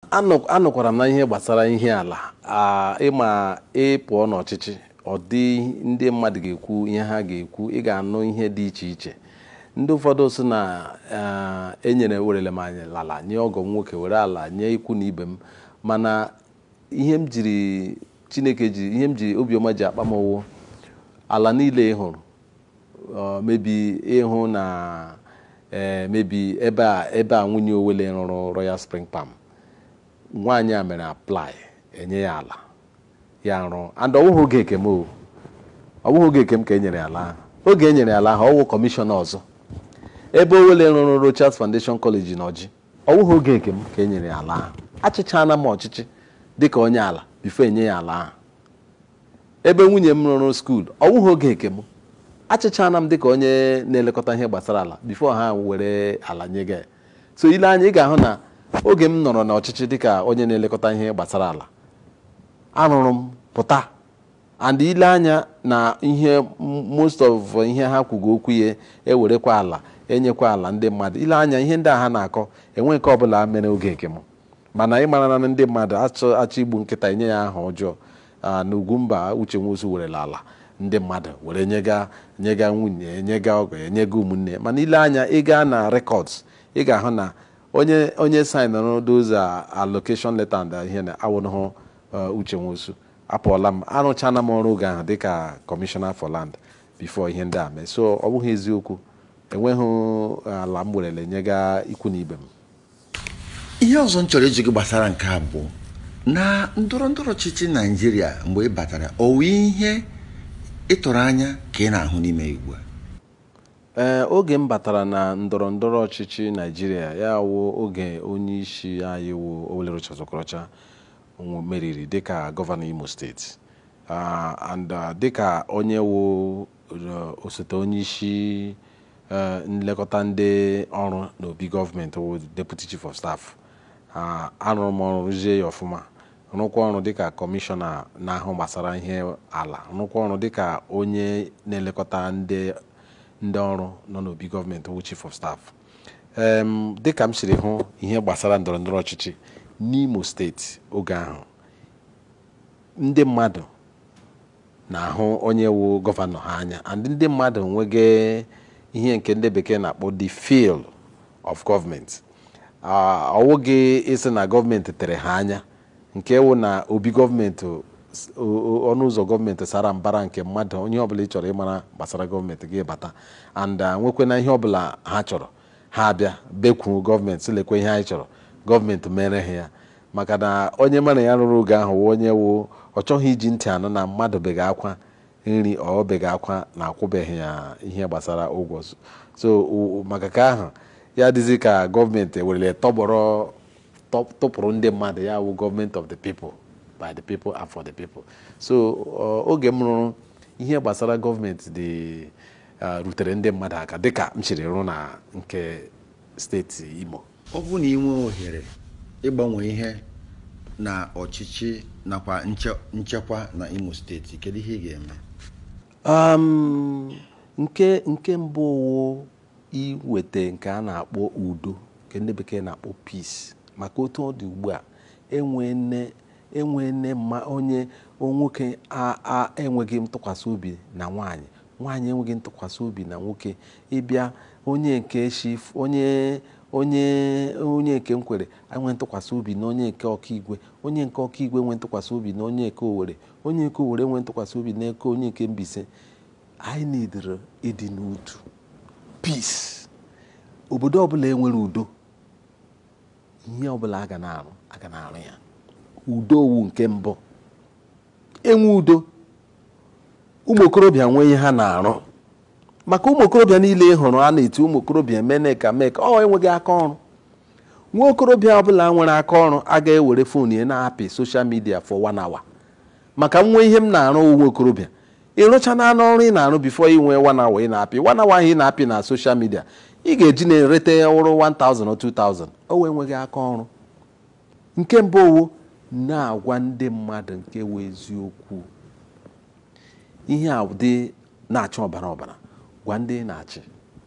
Anọ- anọkwara m na ihe gbasara ihe ala a, ị ma ị pụọ n'ọchịchị ọ dị ndị mmadụ ga-ekwu ihe ha ga-ekwu ị ga-anụ ihe dị iche iche ndị ụfọdụ sị na eh, enyere werele m anyị ala nye ọgọ m nwoke were ala nye ikwu na ibe m mana ihe m jiri chineke ji ihe m ji obiọma ji akpa m ọ wụ ala niile ị hụrụ uh, maybe ị hụ na eh, maybe ebe a ebe a nwunye Owelle rụrụ royal spring palm nwaanyị a mere apply enye ya ala ya rụọ and ọ wụghị oge nke m o ọ wụghị oge nke m ka e nyere ya ala ahụ oge e nyere ya ala ahụ ọ wụ kọmishọna ọzọ ebe Owelle rụrụ rochas foundation college na Orji ọ wụghị oge nke m ka e nyere ya ala ahụ achịchaana m ọchịchị dịka onye ala before enye ya ala ahụ Ebe nwunye m rụrụ skuul, ọ wụghị oge nke m. Achịchaana m dịka onye na-elekọta ihe gbasara ala before ha were ala nyege. So i lee anya, ị ga-ahụ na oge m nọrọ n'ọchịchị dịka onye na-elekọta ihe gbasara ala, arụrụ m pụta and i lee anya na ihe most of ihe ha kwuga okwu ya ewerekwa ala enyekwa ala ndị mmadụ, i lee anya ihe ndị a ha na-akọ enwe nke ọbụla mere oge nke m. mana ị mara na ndị mmadụ achọ achọọ igbu nkịta enye ya aha ọjọọ Ah, na Ugwumba Uche Nwosu werela ala ndị mmadụ were nyega nyega nwunye nyega ọgọ ya nyega ụmụnne mana i lee anya ị gaa na records ị ga-ahụ na onye onye sainụrụ those ah, allocation letter and ah, ihe na awụnụhụ ah, Uche Nwosu apụọla m arụchaana m ọrụ oge ahụ dịka Commissioner for Land before ihe ndị a mee so ọ bụghị eziokwu enweghị ala m werele nyega ikwu na ibe m ihe ọzọ m chọrọ ịjụ gị gbasara nke a bụ na ndọrọ ndọrọ ọchịchị naijiria mgbe ị batara ọ wụ ihe ị tụrụ anya ka ị na-ahụ n'ime ya ugbu a ee oge m batara na ndọrọ ndọrọ ọchịchị naijiria ya wụ oge onye isi anyị wụ Owelle Rochas Okorocha nwe- meriri dịka gọvanọ imo steeti Ah, and ah, dịka onye wụ Osote onyeisi nlekọta ndị ọrụ n'obi gọọmenti wụ Deputy Chief of Staff arụrụ m ọrụ rụzie ya ọfụma rụkwa ọrụ dịka kọmishọna na-ahụ gbasara ihe ala rụkwa ọrụ dịka onye na-elekọta ndị ndị ọrụ nọ n'obi gọọmenti wụ Chief of Staff dịka m siri hụ ihe gbasara ndọrọ ndọrọ ọchịchị n'Imo steeti oge ahụ ndị mmadụ na-ahụ onye wụ gọvanọ ha anya and ndị mmadụ nwege ihe nke ndị bekee na-akpọ the feel of government ọ wụghị ịsị na gọọmenti tere ha anya nke wụ na obi gọọmenti ọnụ ụzọ gọọmenti sara mbara nke mmadụ ihe ọbụla ị chọrọ ịmara gbasara gọọmenti gị bata and nwekwe na ihe ọbụla ha chọrọ ha abịa bekwuru gọọmenti sị lekwe ihe anyị chọrọ gọọmenti mere ha ya maka na onye mụ na ya rụrụ oge ahụ wụ onye wụ ọ chọghị iji ntị anụ na mmadụ bega akwa nri ọ bega akwa na akwụbeghị ya ihe gbasara ụgwọ so- so o- o- maka ka ahụ ya dịzi ka gọọmenti ewerele tọgbọrọ tọ- tụpụrụ ndị mmadụ ya wụ gọọmenti of the people by the people and for the people so ọ- oge m rụrụ ihe gbasara gọọmenti dị eh, rutere ndị mmadụ aka dịka m siri rụ na nke steeti Imo ọ bụrụ na ị nwee ohere ịgbanwe ihe na ọchịchị nakwa nche- nchekwa na Imo steeti kedu ihe ị ga-eme Um, nke nke mbụ wụ iweta nke a na-akpọ udo nke ndị bekee na-akpọ peace maka otu ọ dị ugbu a enwe nne enwe nne ma onye nwoke a a enweghị ntụkwasị obi na nwaanyị Nwaanyị enweghị ntụkwasị obi na nwoke ị bịa onye nke shi onye onye onye nke Nkwere enwe ntụkwasị obi na onye nke Okigwe onye nke Okigwe enwe ntụkwasị obi na onye nke Owere onye nke Owere enwe ntụkwasị obi na eke onye nke Mbaise anyị nidere ịdị n'otu peace obodo ọbụla e nwere udo ihe ọbụla a ga na-arụ a ga na-arụ ya udo ọ wụ nke mbụ e nwee udo ụmụ okorobịa nwee ihe ha na-arụ maka ụmụ okorobịa niile ị hụrụ a na-eti ụmụ okorobịa emene nka mee nka ọ wụ enweghị aka ọrụ nwa okorobịa ọbụla nwere aka ọrụ aga ewere fon ya na-apị social media for one hour maka m nwe ihe m na-arụ nwa okorobịa ị rụcha na anụ ọrụ ị na-arụ before ị nwee one hour ị na-apị one hour ahụ ị na-apị na social media ị ga-eji na-erite uru 1000 or 2000 ọ wụ enweghị aka ọrụ nke mbụ ọ wụ na-agwa ndị mmadụ nke wụ eziokwu ihe a dị na-acha ọbara ọbara gwa ndị ị na-achị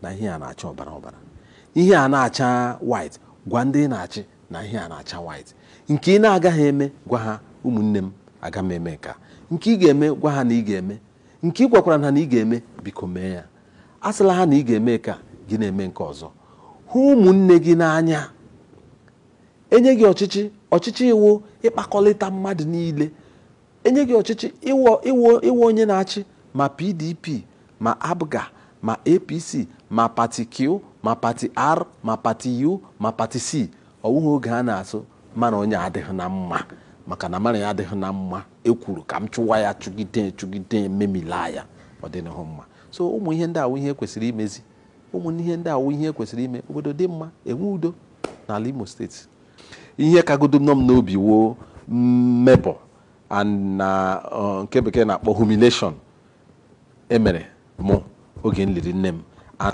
na ihe a na-acha ọbara ọbara ihe a na-acha white gwa ndị ị na-achị na ihe a na-acha white nke ị na-agaghị eme gwa ha ụmụnne m aga m eme nka nke ị ga-eme gwa ha na ị ga-eme nke ị gwakwara ha na ị ga-eme biko mee ya asịla ha na ị ga-eme ka gị na-eme nke ọzọ hụ ụmụnne gị n'anya e nye gị ọchịchị ọchịchị wụ ịkpakọlịta mmadụ niile e nye gị ọchịchị ị wụ ị wụ ị wụ onye na-achị ma PDP ma APGA ma APC ma pati Q ma pati R ma pati U ma pati C ọ wụghị oge a na-asị mụ na onye adịghị na mma maka na mụ na ya adịghị na mma ekwuru ka m chụwa ya chụgide chụgide memila ya ọ dịghị mma so ụmụ ihe ndị a wụ ihe kwesịrị imezi ụmụ ihe ndị a wụ ihe kwesịrị ime obodo dị mma enwe udo n'ala Imo steeti ihe kagodo nọ m n'obi wụ mmebọ na uh, nke bekee na-akpọ humiliation e mere mụ oge m liri nne m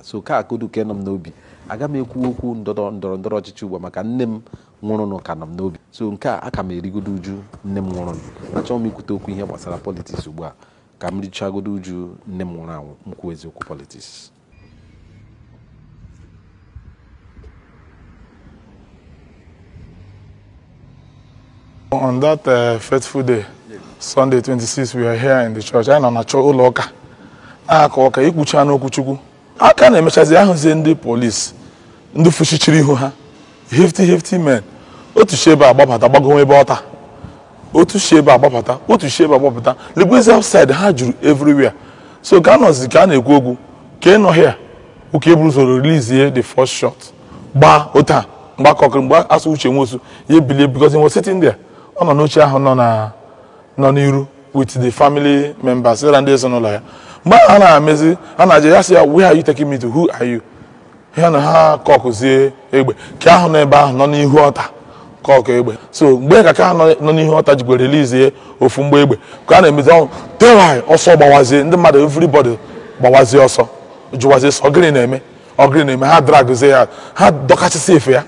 so kagodo ka nọ m n'obi aga m ekwu okwu ndọrọ ndọrọ ọchịchị ugbu maka nne m nwụrụnụ ka nọ m n'obi so nke a aka m erigodo uju nne m nwụrụnụ achọghị m ikwute okwu ihe gbasara politiks ugbu a ka m richagodo uju nne m nwụrụ anwụ m kwuwezie okwu politiks On that uh, fateful day, Sunday 26, we are here in the church. Anyị nọ na chọ ụlọ ụka na-aka ụka e kwuchaana okwu Chukwu a ka na-emechazi a hụzie ndị polisi ndị fụchichiri ihu ha hefty hefty men otu si ebe a gbabata gbago ebe altar otu si ebe a gbabata otu si ebe a gbabata legwezi outside ha juru everywhere so ka a nọzi ka a na-ekwu okwu ka ị nọ here ụka e buru ụzọ release the first shot gbaa otu a mgbe a kọkịrị egbe a sị Uche Nwosu ya bilie because he was sitting there ọ nọ n'oche ahụ nọ na nọ n'iru with the family members ya na ndị ezinụlọ ya mgbe ahụ a na-emezi a na-ajụ ha sị ha where are you taking me to who are you ya na ha kọkụzie egbe ka ha nọ ebe ahụ nọ n'ihu altar kọkụ egbe so mgbe ha ka nọ n'ihu altar jikwa release ofu mgbọ egbe ka a na-emezi ọnwụ tewai ọsọ gbawazie ndị mmadụ everybody gbawazie ọsọ jụwazie sị ọ gịrị na-eme ọ gịrị na-eme ha dragzie ya ha dọkachasịa efe ya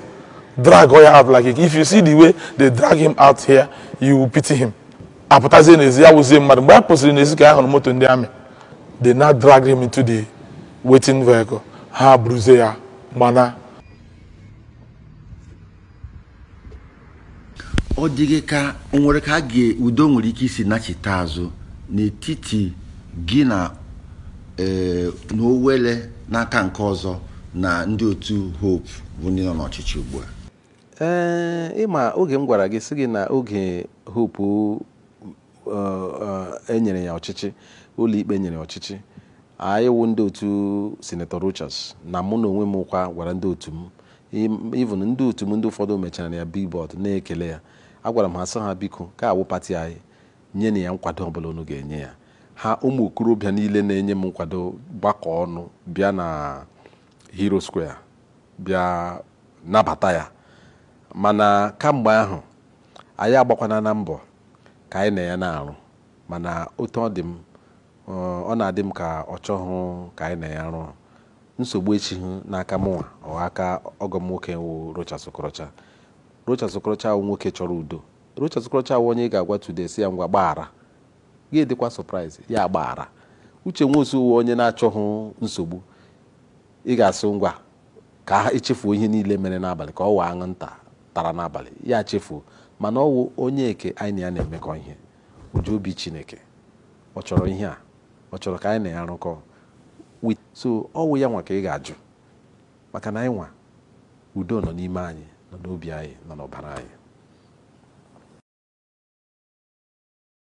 drag ya out like if you see the way they drag him out here you will pity him a pụtazie n'ezi ya wụzie mmadụ mgbe a pụsịrị n'ezi ka a hụrụ moto ndị army they now drag him into the waiting vehicle ha buruzie ya mana ọ dịghị ka o nwere ka a ga udo nwere ike isi nachite azụ n'etiti gị na ee eh, na Owelle n'aka nke ọzọ na ndị otu Hope bụ ndị nọ n'ọchịchị ugbu a ee eh, ị ma oge m gwara gị sị gị na oge Hope e nyere ya ọchịchị ụlọikpe nyere ya ọchịchị anyị wụ ndị otu sinetọ Rochas na mụ na onwe m kwa gwara ndị otu m even ndị otu m ndị ụfọdụ mechaara ya billboard na-ekele ya agwara m ha sị ha biko ka ọ wụ pati anyị nyenụ ya nkwado ọbụla unu ga-enye ya ha ụmụ okorobịa niile na-enye m nkwado gbakọ ọnụ bịa na Heroes Square bịa nabata ya mana kamgbe ahụ anyị agbakwaana mbọ ka anyị na ya na-arụ mana otu ọ dị m ọ na-adị m ka ọ chọghị ka anyị na ya rụọ nsogbu esighị n'aka mụnwa or aka ọgọ m nwoke wụ Rochas Okorocha Rochas Okorocha wụ nwoke chọrọ udo Rochas Okorocha wụ onye ị ga-agwa today sị ya ngwa gbaghara ị ga-adịkwa surprise ya agbaghara Uche Nwosu wụ onye na-achọghị nsogbu ị ga-asị ngwa ka ha echefuo ihe niile mere n'abalị ka ọ wụ anwụ nta tara n'abalị ya chefuo mana ọ wụ onye nke anyị na ya na-emekọ ihe o ji obi chineke ọ chọrọ ihe a ọ chọrọ ka anyị na ya rụkọ so ọ wụ ya nwa ka ị ga-ajụ maka na anyị nwa udo nọ n'ime anyị nọ n'obi anyị nọ n'ọbara anyị